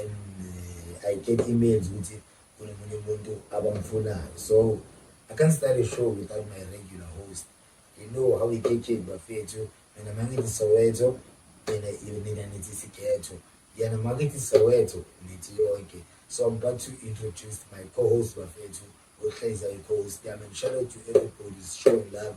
and I get emails ukuthi kunomunye umuntu abamfunayo so I can't start a show without my regular host you know how we get it bafethu mina mangithi Soweto mina mina nithi Sigetho yena makithi Soweto nithi yonke so I'm about to introduce my co-host bafethu ohleza i-co-host yami and shout out to everybody's showing love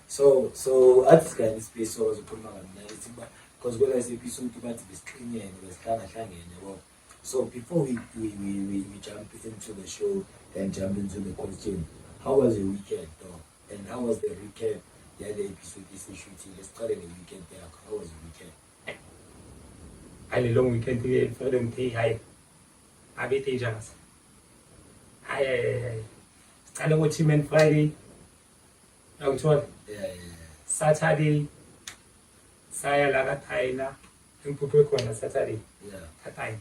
so so athi sikanye ispace sokwazi ukukhuluma kamnandi ukuthi kuba because kwela sephisa umuntu bathi besiqinene besihlangahlangene yabo so before we, we, we, we, we jump into the show and jump into the question how was your weekend though and how was the recap yale episode esishutile siqale nge-weekend yakho how was your weekend hayi le long weekend ke fanele ngithe hayi abe dangerous hayi hayi hayi siqale ngo-team and friday Yangithola? Yeah, yeah. Saturday saya la kaThayina engiphuphe khona Saturday. Yeah. KaThayina.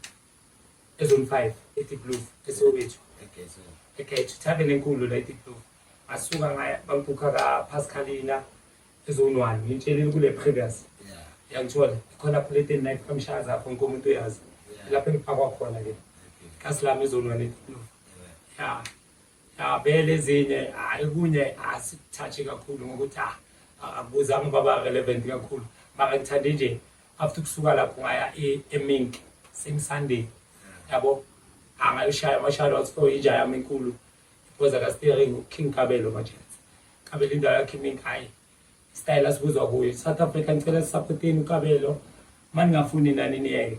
Ezone 5 eDeep Blue eSoweto. Egezo. Egezo tavern enkulu la eDeep Blue. Asuka ngaya bangibhukha ka Pascalina ezone 1 ngitshelile kule previous. Yeah. Yangithola khona plate night kamshaza apho nkonke umuntu uyazi. Lapho engipakwa khona ke. Kasilami ezone 1 eDeep Blue. Yeah. Ya vele ezinye hayi kunye asithathe kakhulu ngokuthi ah, akubuzanga uba ba-relevant kakhulu mara ngithande nje after ukusuka lapho ngaya e- emink same sunday yabo angayoshaya amashalo athiwa yinja yami enkulu iphoza kastering uking kabelo manje kabelo indawo yakhe imink hayi isitayela sibuzwa kuyo south africa ngicela sisaphoteni ukabelo uma ningafuni nani niyeke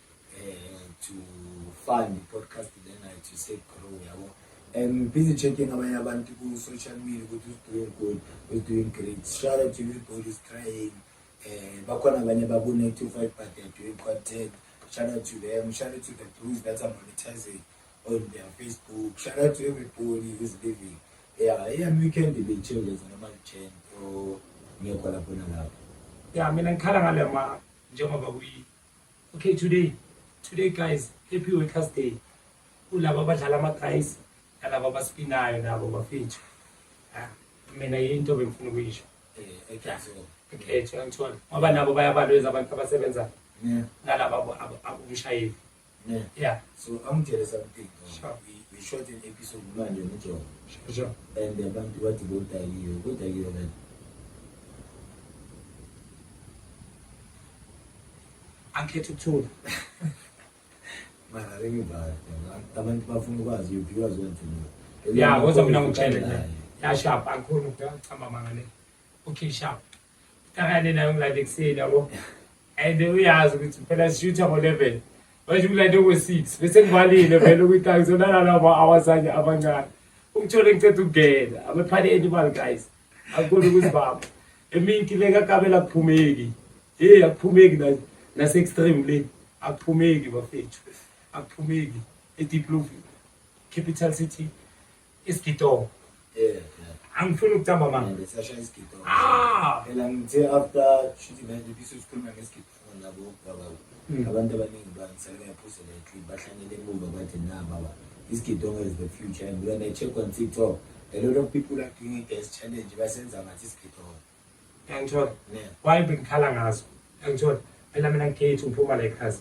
eh, to fund podcast lena to say grow yabo I'm busy checking abanye abantu ku social media ukuthi who's doing good who's doing great shout out to everybody who's trying eh bakhona abanye baku 95 but they're doing content shout out to them shout out to the blues that are monetizing on their facebook shout out to everybody who's living yeah yeah weekend be changes noma change or ngekho lapho nalapho ya mina ngikhala ngalema njengoba kuyi Okay today today guys happy workers day kulabo abadlala ama-guys nalabo abaspinayo nabo bafethu ah, mina yinto bengifuna ukuyisho ekhethwa ngithola ngoba nabo bayabalweza abantu abasebenzayo nalaba abumshayeli yeah so i'm jealous of thing sure. we, we shot an episode manje nojobo sure, sure. and abantu bathi bodakiwe bodakiwe kanti angikhetha ukuthula mara lengibhala abantu bafuna ukwazi yuphi kwazi wenthula ya kodwa mina ngitshele nje yashapha angikhona ukuchamba manga le okay sharp kakane nayo ngilande ekuseni yabo and uyazi ukuthi phela sishutha ngo-eleven manje ngilande ngo-six bese ngivalile vele ukuthi angizonalala ama-hours anye abancane ukuthola ngiceda ukungena abephane animal guys Akukona ukuthi baba eminti le kakabela kuphumeki hey akuphumeki na nase extreme le akuphumeki bafethu akuphumeki edeep blue capital city isigidongo yeah angifuni ukuthamba manje ngisasha isigidongo ah phela ngithe after shooting nje bisusikhuluma ngesigidongo Hmm. abantu abaningi bangisale ngayaphuza le tweet bahlangene emuva bathi na baba this kidonga is the future and when i check on tiktok a lot of people are doing it as challenge basenza ngathi isigidonga yangithola why bengikhala ngazo yangithola phela mina ngikhethi ngiphuma la ekhasi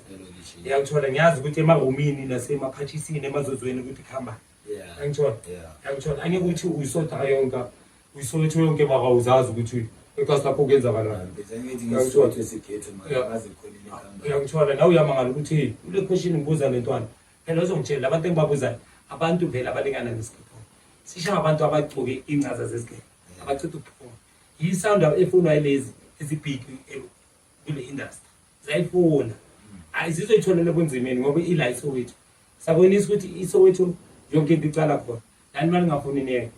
yangithola ngiyazi ukuthi emahomini nasemaphathisini emazozweni ukuthi kuhambani yeah angithola yeah angithola angikuthi uyisotha yonke uyisotha yonke maka uzazi ukuthi ekasi lapho kuyenzakalani uyangithola nawe uyamangala ukuthi ule question ngibuza le ntwana phela uzongitshela abantu engibabuzayo abantu vele abalingana nesigibho sisha abantu abagcoke ingcaza zesigebe abachitha ubukhona yisound efunwa yilezi ezibhiki kule industry zayifuna hayi zizoyitholela kunzimeni ngoba ila isowethu sabonisa ukuthi isowethu yonke into icala khona lani mali ngafuni niyeke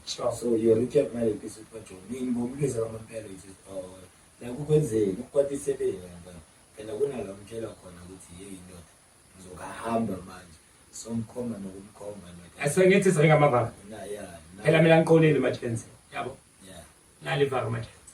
Sure. So your recap mali episode kwa John. Ni ngomlisa kama mpelo it is all. Oh, la kukwenzeni ukwati sebele ngaba. Phela kuna la mtshela khona ukuthi hey indoda ngizokahamba manje. So mkhoma nokumkhoma ndoda. Asengithi sengama baba. Na yeah. Phela mina ngiqolile majenzi. Yabo. Yeah. Nali baba majenzi.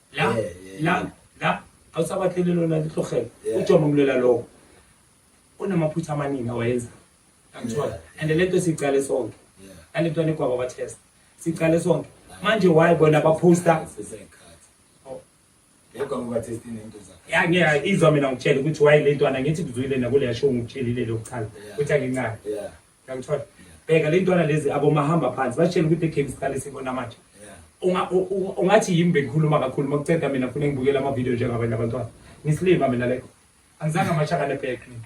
la Yeah, yeah, la yeah. la awusabakhele lona lihlogela Yeah. ujomo mlela lowo unamaphutha amaningi awayenza angithola Yeah. and le nto siyiqale sonke Yeah. nale nto anegwaba batest siyiqale sonke manje why bona baphosta Siseyikhathi. Oh. Yekwa ngoba test inento zakhe. ya ngiya izwa mina ngitshele ukuthi why le ntwana ngithi kuzwile nakuleya show ngikutshelile lokuqala Yeah. ukuthi angincane Yeah. Yangithola. Bheka le ntwana lezi abomahamba phansi batshela ukuthi iGame siqale sibona manje. Unga- u- u- Ungathi yimi bengikhuluma kakhulu uma kuceda mina funa ngibukele amavidiyo njengabanye abantwana. Ngisilima mina lekho. Angizange amashaka nebhek mina.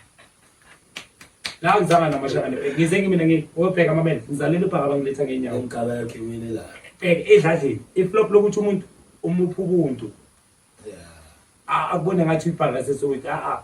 La angizange namashaka nebhek. Ngize ngimina ngi obheka amamele ngizalele ubhaka bangiletha ngenyawo. Umqaba yakhe imile la. Bheka edladleni iflop lokuthi umuntu umupha ubuntu. Yeah. A- akubone ngathi uyibhaka sesowethu a a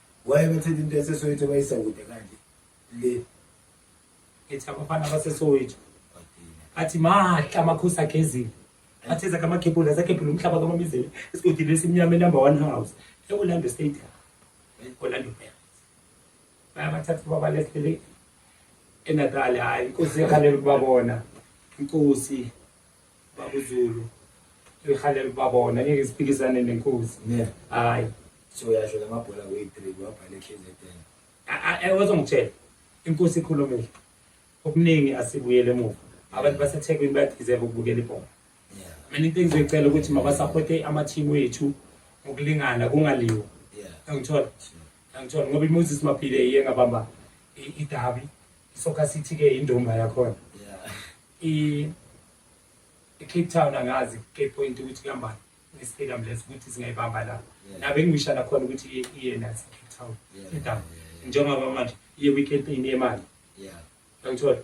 Waye bethetha into yaseSoweto bayisa kude kanje le ethi abafana baseSoweto athi mahla amakhosi agezile athi ezakhe amakhepula azakhepula umhlaba kamamizele esigodini esimnyama enumber one house eorlando stadium orlando pirates bayabathatha babalesele enatali hhayi inkosi yakhalele ukubabona inkosi babuzulu lihalela ubabona ngeke siphikisane nenkosi hayi so yasho lamabhola kuyi-three wabhala ekhzn wazongitshela inkosi ikhulumile okuningi asibuyele emuva abantu basethekwini bayadizeva ukubukela ibhola mina into engizoyicela ukuthi mabasaphothe amathimu wethu ngokulingana kungaliwa angithola angithola ngoba imoses maphile iye ngabamba idabi isoccer city-ke indomba yakhona I Cape Town angazi Cape Point ukuthi kuhambani nestadium lesi ukuthi singayibamba la na bengisha la khona ukuthi iyena Cape Town edamu njengoba manje iye weekend ini yemali yeah ngithola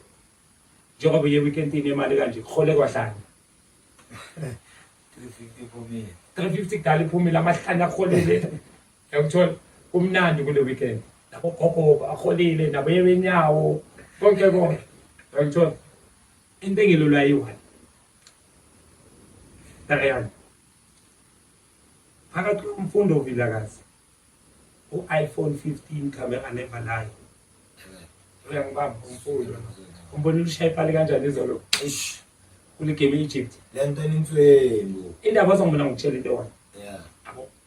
njengoba iye weekend ini yemali kanje khole kwahlanga 350 phumile 350 kudala iphumile amahlanya aholele Yakuthola kumnandi kule weekend. Nabo gogo baholile nabo yebenyawo konke konke. Yakuthola into engilulwa yiwani. Tayani. Phakathi komfundo ovilakazi u-iPhone 15 camera never lie. Uyangibamba umfundo. Umbona ulushaye pali kanjani izolo? Eish. Kule game e-Egypt. Lento enintswelo. Indaba ozongibona ngikutshela into yona.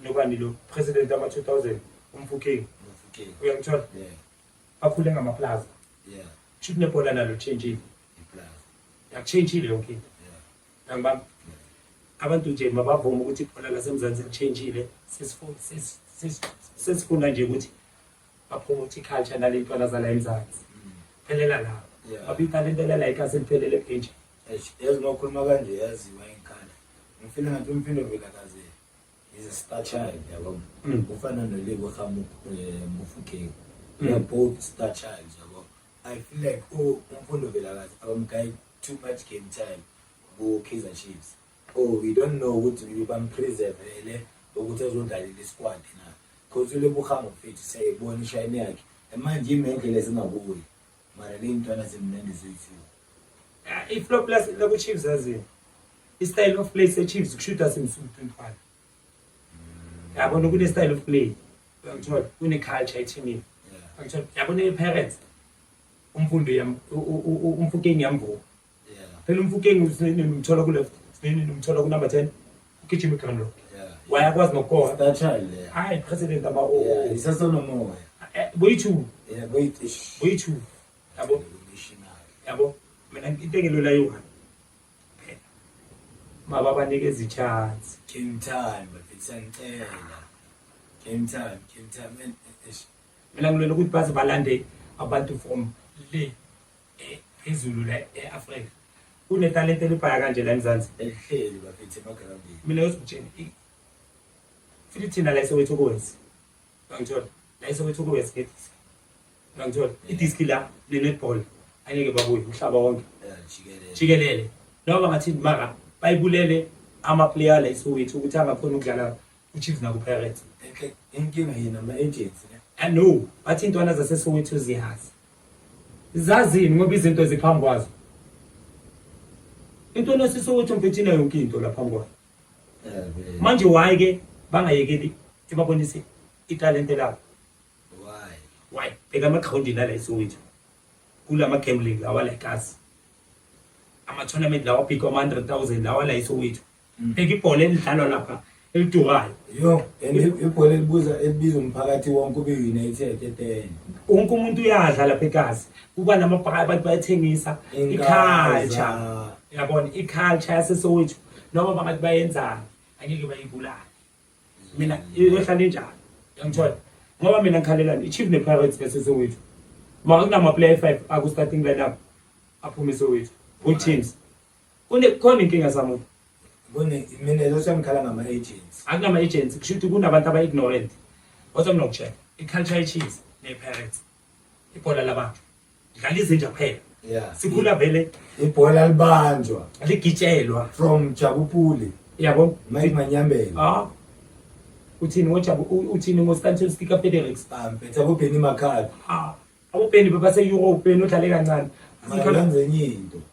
Nobani lo president ama 2000 umfuking. Umfuking. Uyangithola? Yeah. Bakhule ngama plaza. Yeah. Chip nebhola nalo change it. Iplaza. Yakuchange ile yonke into. Yeah. Angibamba. Abantu nje mabavuma ukuthi ibhola laseMzansi lichange ile. Sesifuna sesifuna nje ukuthi bapromote iculture nale ntwana zala eMzansi. Mm. Phelela la. Babika le nto la ikase liphelele ebenje. Yazi nokhuluma kanje yaziwa inkala. Ngifile ngathi umphindovela kaze. is a star child yabo mm. ufana nolebo khamu eh, mufukeng mm. they're both star child yabo i feel like oh umfundo velakazi abamgayi too much game time ku-kaizer chiefs oh we don't know ukuthi bampreservele ukuthi azodlalela isquad na because ulebo khamu fethu siyayibona ishayini yakhe manje ime endlela ezingakuyo mara le mntwana zimnandi zithi ah, iflop lakuchiefs azini i-style of play sechiefs kushuthi asimsuku 25 yabona kune-style of play uyangithola kune-culture ethimini uyangithola yabona i-parents umfundo umfukeni yamvuka phela umfukeng usnini umthola ku left usnini umthola ku number 10 ugijima iground road wayakwazi nokukoha that child yeah. hayi president ama o yeah, isasonomoya eh, boyithu yeah boyithu boyithu yabo yabo mina into engelula yona phela maba banike izichance game time bafisangicela game time game time mina ngilwela ukuthi baze balande abantu from le Izulu la e-Afrika kunetalente elibhaya kanje la eMzansi elihleli bakithi emagrandini. Mina ngizokutshela i- futhi thina la eSoweto kuwesi uyangithola la eSoweto kuwesi ngedisi uyangithola idiski la ne-netball angeke babuye umhlaba wonke Eh, jikelele. jikelele noma bangathini mara bayibulele amaplayer la eSoweto ukuthi angakhona ukudlala UChiefs nakuPirates inkinga yini ama-agency ne? I know but iy'ntwana zaseSoweto ziyazi zazini ngoba izinto ziphambi kwazo into nosiSoweto mfethu inayo yonke into la phambi kwayo Eh, manje why ke bangayekeli sibabonise italente labo Why? why bheka amagrawundini ala eSoweto kula ma-gambling lawa la eKasi ama-tournament lawa abhikwa ama-100,000 lawa la eSoweto Ngibheka ibhola elidlalwa lapha elidurayo. Yo, and ibhola elibuza elibiza umphakathi wonke ube United etene. Wonke umuntu uyadla lapha eKazi. Kuba namabhaka abantu bayethengisa i-culture. Yabona i-culture yasesowethu noma bangathi bayenzani angeke bayibulale. Mina iyohlala injalo. Yangithola. Ngoba mina ngikhalelani i-Chiefs ne-Pirates yasesowethu. Makunama player 5 aku starting lineup aphume esowethu. Good teams. Kune khona inkinga zamuntu. Kune mina lezo siyangikhala ngama agents. Akunama agents kusho ukuthi kunabantu aba ignorant. Kodwa mina ngokutshela iculture icheese ne parents. Ibhola labantu. Dlala izinja kuphela. Yeah. Sikhula vele ibhola libanjwa. Ligitshelwa from Jabupuli. Yabo? Mike Manyambela. Ah. Uthini ngoJabu uthini ngoStanton Sticker Federix? Ah, mpetha bobheni makhadi. Ah. Abobheni bebase Europe benodlale kancane. Sikhala ngenye into.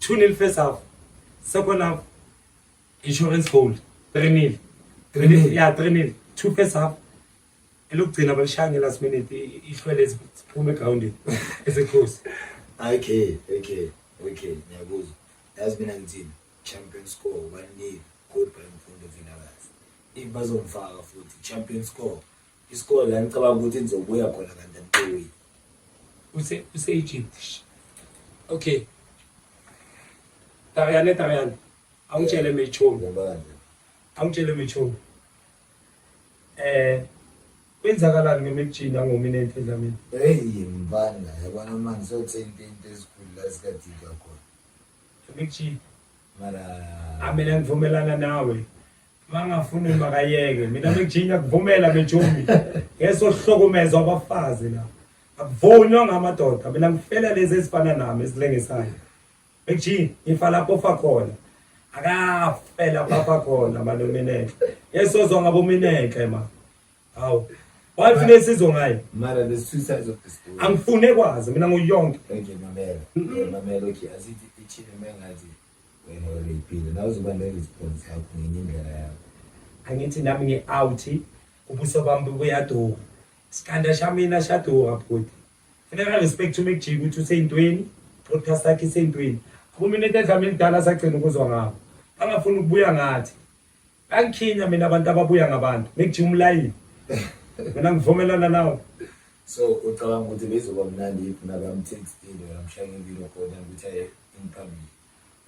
2 nil first half second half insurance goal 3 nil 3 nil ya 3 nil 2 first half elokugcina balishaya ngelast minute ihlwele siphume egroundini esekhosi okay okay okay ngiyakuzwa yazi mina ngithini champion score 1 nil good brand fundo vinakazi if bazomfaka futhi champion score Isikole la ngicabanga ukuthi nizobuya khona kanti emqoweni. Use use Egypt. Okay. Tayane tayane. Awungitshele mechomi. Ngobani? Awungitshele mechomi. Eh kwenzakalani ngemekujini angomina emphedlamini? Hey mbana yabona manje sothi into esikhulu la sikadika khona. Emekujini. Mara. Amela ngivumelana nawe. Mangafuni makayeke. Mina ngijinga kuvumela bejumi. Ngeso hlokumezwa abafazi la. Akuvunywa ngamadoda. Mina ngifela lezi ezifana nami esilengisayo. Bejinga ngifa lapho fa khona. Akafela papa khona manje mineke. Yesozwa ngabo mineke ma. Hawu. Wayifuna isizo ngayo. Mara the suicide of the story. Angifune kwazi mina nguyonke. Ngeke mamela. Mamela okay asithi ichile mengathi wena wereyipile nawe uzobaleka iziphondo zakho ngenye indlela yakho angithi nami ngi-out ubuso bami buyaduka sikhanda shamina shaduka bhuti funeka respect umekujika ukuthi useyintweni podcast yakhe iseyintweni akumina into edlama elidala sagcina ukuzwa ngabo bangafuni ukubuya ngathi Angikhinya mina abantu ababuya ngabantu ngikujima umlayini mina ngivumelana nawe so ucabanga ukuthi bezoba mnandi yiphi nabamthekstile namshaya impilo khona ukuthi aye ingiphambili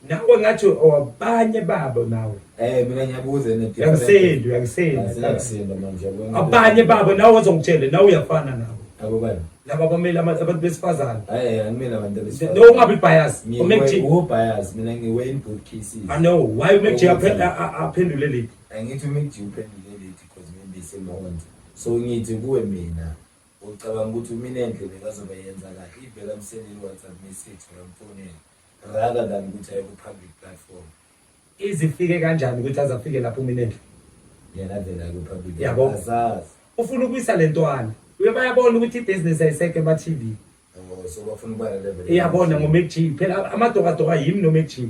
nawe ngathi awabanye babo nawe eh mina ngiyabuza ne yakusendo yakusendo yakusendo manje abanye babo nawe ozongitshela nawe uyafana nawe abo bani laba abamele ama- abantu besifazane hayi angimele abantu abesifazane. no ungabi bias Ngiwe- umake G wo bias mina ngiwe in good cases i know why umake G aphe- a- a- aphendule leli angithi uMcG uphendule leti because maybe simond so ngithi kuwe mina ucabanga ukuthi mina enhle bekazobe yenza kahle ibheka mseleni WhatsApp message ngamfonela rather than ukuthi aye ku public platform izifike kanjani ukuthi azafike lapho uminenhle yena vele akuphaphile yabo azazi ufuna ukuyisa lentwana uyobayabona ukuthi ibusiness ayiseke ema TV oh so bafuna ukuba level iyabona ngo Mac G phela amadoka doka yimi no Mac G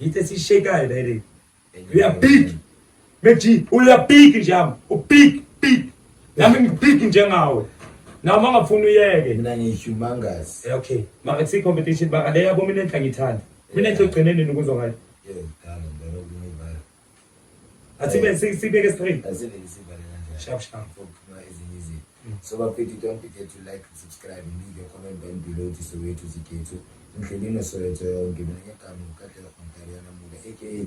yithi sishekayo la le you are big Meji, uyabhiki nje yami. Ubhiki, bhiki. Yami ngibhiki njengawe. Nawe mangafuna uyeke. Mina ngiyihumongous. Eh, okay. Maka si competition baka le yabo mina enhla ngithanda. Mina enhla ugcineni nokuzwa ngayo. Yeah, dala ngibona ukuyivala. Athi be sibeke straight. Asibeke sibale kanjani? Sharp sharp. Phuma ezinye izinto. Mm. So bafethu don't forget to like, subscribe, leave your comment down below to Soweto Zikhethu. Ngidlulile Soweto yonke mina ngegama uKatlela Khontaliyana Muka aka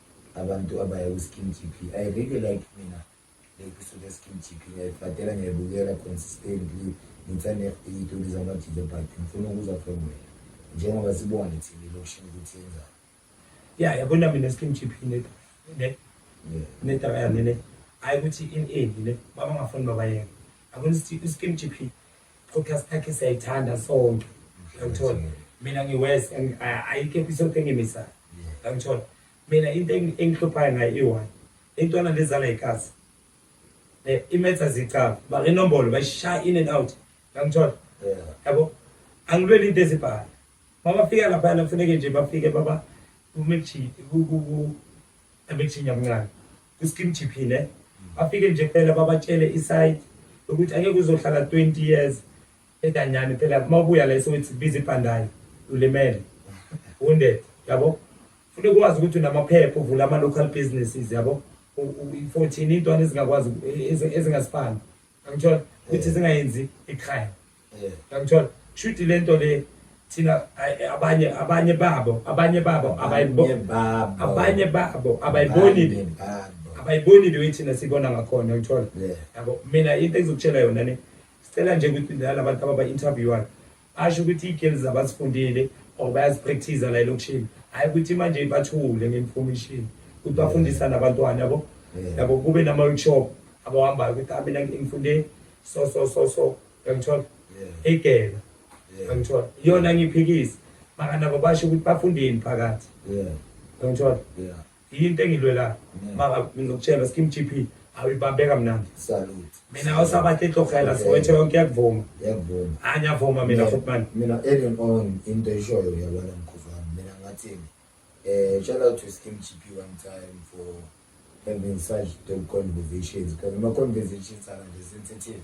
Abantu abaya ku-skin GP, I really like mina le kusuke e-skin GP ngiyayifadela ngiyayibukela consistently ngithanda iy'toli zama-DJ but ngifuna ukuzwa from wena njengoba sibona ne-TV lokushini ukuthi yenzani. Ya yabona mina e-skin GP ne ne ne taba ya mina hayi ukuthi in ini ne baba ngafuni babayeke. Akwenza ukuthi i-skin GP podcast yakhe siyayithanda sonke yangithola mina ngiwest and uh, ayikho episode engimisayo yangithola mina into engihluphayo ngayo iwani intwana lezala ikazi eh, imetha zicaba barinombolo bayishaya in and out yangithola yabo angilweli into ezibhala mabafika laphayana kufuneke nje bafike baba kumekuthinya mncane Kuskim GP ne. Bafike nje phela babatshele isayidi ukuthi angeke uzohlala 20 years edanyani phela uma ubuya la esowethi biza ibhandayi ulimele wounded yabo funeka ukwazi ukuthi unamaphepha uvula ama-local businesses yabo 14 intwana ezingakwazi ezingasifani Angithola ukuthi singayenzi ikhaya. Angithola shuthi lento le thina abanye abanye babo abanye babo abayiboni abanye babo abayiboni abayiboni leyo thina sibona ngakhona ngithola yabo mina into engizokutshela yona ne sicela nje ukuthi laba bantu ababa interviewayo Asho ukuthi ii-girls abazifundile or bayazipractice la elokishini hhayi ukuthi manje bathule nge-information ukuthi bafundisa nabantwana yabo yabo kube nama-workshop abahambayo ukuthi ah mina ngifunde so so so so yangithola igela yangithola iyona ngiphikisa makanabo basho ukuthi bafundeni phakathi yangithola Yinto engilwela maka ngizokutshela skim GP awibambeka mnandi. Salute. Mina awusabathi ihlogela siwethe yonke yakuvuma. Yakuvuma. Anyavuma mina futhi manje. Mina early on into eshoyo yabona mkhuzwana mina ngathini. Eh shout out to skim GP one time for having such dope conversations because my conversations are sensitive.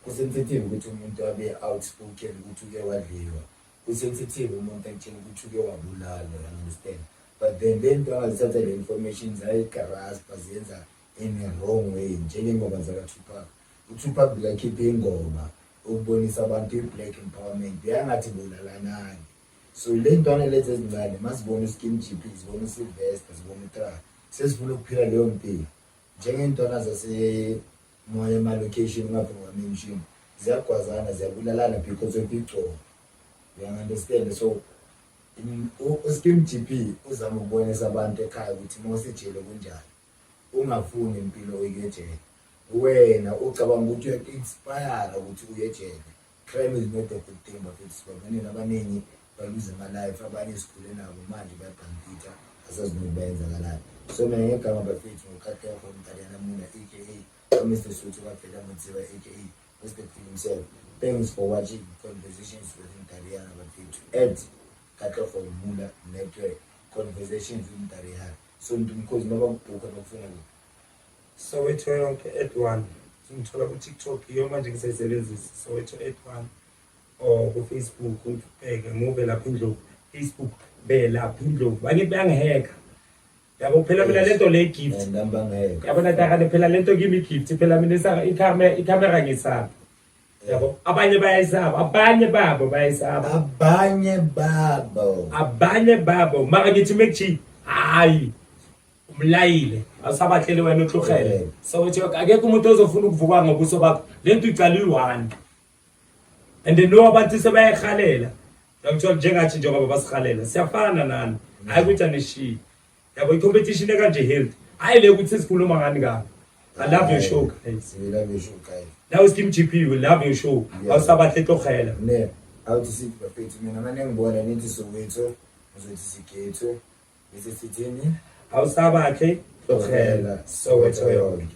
Kusensitive ukuthi umuntu abe outspoken ukuthi uke wadliwa. Ku sensitive umuntu akutshela ukuthi uke wabulala you understand but then lento angazithatha le information zayigaraspa ziyenza in a wrong way njengengoma zakaTupac uTupac bekakhipha ingoma ukubonisa abantu i-black empowerment beyangathi bulalanani so le ntwana lezi ezincane mazibona uskin gp zibona usylvester zibona utra sezifuna ukuphila leyo mpilo njengey'ntwana zase Ungaya ema location ungavumi nga mention ziyagwazana ziyabulalana because of igcobo uyang understand so uSkim GP uzama ukubonisa abantu ekhaya ukuthi uma usejele kunjani ungafuni impilo oyikejele wena ucabanga ukuthi uyaku-inspire ukuthi uye ejele Crime is not a good thing bafethu sibabanini abaningi baluze ama life abanye sikhule nabo manje bayabhampitha asazi nokuthi bayenzakalani so mina ngegama bafethu ngokhathekho umdalana muna aka Mr Suthu kaBhela Mutsiba aka Mr Phil himself thanks for watching conversations with Mdaliyana bafethu at Katlego Mula Network conversations with Mdaliyana so ndimkhozi noba kubhukha nokufuna Soweto yonke at one ngithola ku TikTok iyo manje ngisayisebenzisa Soweto at one or ku Facebook ngibheke ngube lapha indlovu Facebook be lapha indlovu bakithi bangiheka yabo phela mina lento le gift yabona takane phela lento kimi gift phela mina i camera i camera ngisaphi yabo abanye bayayisaba abanye babo bayayisaba abanye babo abanye babo mara ngithi mekji hayi umlayile awusabahleli wena utlurhele so uthi akekho umuntu ozofuna ukuvuka ngobuso bakho le nto icala iyi-one and then no abantu sebayayirhalela ngithola njengathi njengoba basirhalela siyafana nani hayi ukuthi anishiyi yabo i-competition ekanje health hayi le ukuthi sikhuluma ngani kabi i love your show guys we love your show guys now is kim gp we love your show awusabahle tokhela ne awuthi sithi bafethu mina mane ngibona nithi sokwethu ngizothi sigethu bese sithini awusabakhe tokhela sokwethu yonke